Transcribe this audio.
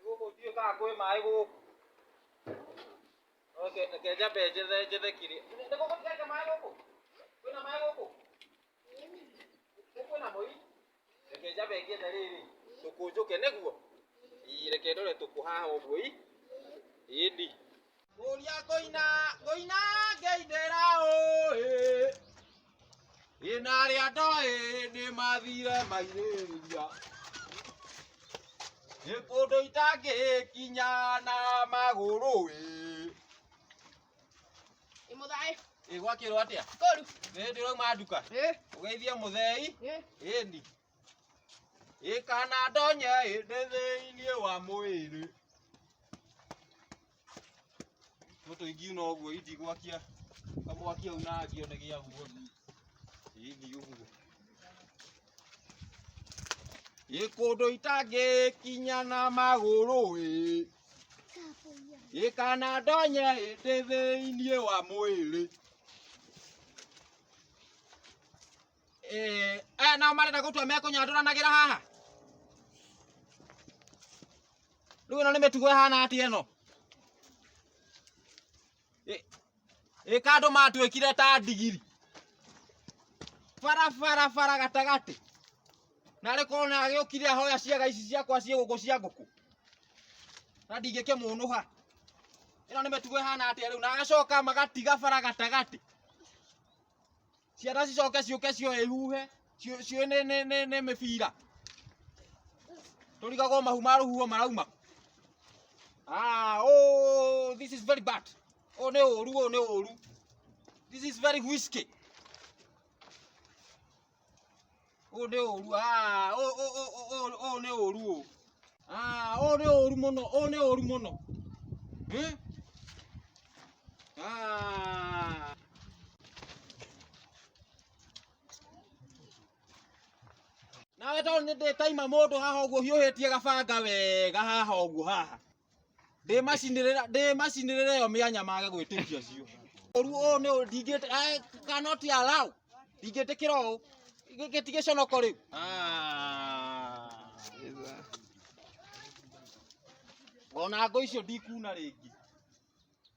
gũkũ ndiũ kana kwĩ maĩ gũkũ Oke, reke njambe njethe njethe kiri nĩ gũkũ ndireke maĩ gũkũ kwĩna maĩ gũkũ Nĩ kwĩna mũi reke njambe ngĩethe rĩrĩ tũkũ njũke nĩguo Ii, reke ndore tũkũ haha ũguo i ĩndi Kũria ngũina ngũina ngĩinĩra ũĩ ĩna arĩa ndoĩ nĩ mathire mairĩria nĩ kũndũ itangĩkinya na magũrũ ĩ Imudai. ĩgwakĩrwo atĩa Koru. nĩ hĩndĩ ũrauma nduka Eh. ũgeithie mũthei Eh. ĩni ĩkana ndonye ĩndĩ thĩinĩ wa mwĩrĩ Tũtũ ingiuna ũguo indigwakia kamwakia u nangio nĩ gĩa guo hihi ũguo gĩkũndũ itangĩkinya na magũrũ ĩ gĩkana ndonye ĩndĩ thĩinĩ wa mwĩrĩ Eh, aya nao marenda gũtua mekũnyandũranagĩra haha rĩu ĩno nĩ mĩtugo ĩhana atĩ ĩno Ĩ- ĩka andũ matuĩkire ta ndigiri bara bara bara gatagatĩ na arĩ korwo na agĩũkire ahoya ciaga ici ciakwa ciĩ gũkũ cia ngũkũ na ndingĩkĩmũnũha ĩno nĩ mĩtugo ĩhana atĩa rĩu na agacoka magatiga bara gatagatĩ ciana cicoke ciũke cioe ihuhe ciũ- ciũe nĩ- nĩ- nĩ nĩ mĩbira tũrigagwo mahu ma rũhuho marauma Ah, oh, this is very bad. Oh, nĩ ũru, oh, nĩ ũru. This is very whiskey. Ũũ nĩ ũru, aa, ũũ ũũ ũũ ũũ ũũ nĩ ũru ũũ. Aa, ũũ nĩ ũru mũno, ũũ nĩ ũru mũno. Eh? Aa. Nawe tondũ nĩ ndĩtaima mũndũ haha ũguo hiũhĩtie gabanga wega haha ũguo haha. ndĩmacinĩrĩra ndĩmacinĩrĩra ĩyo mĩanya mage gwĩtĩkia cio ũru ũũ nĩ ũũ ndingĩte I cannot allow ndingĩtĩkĩra ũũ Gĩ- gĩtigĩconoko rĩu Ah. ona ngũ icio ndikuna rĩngĩ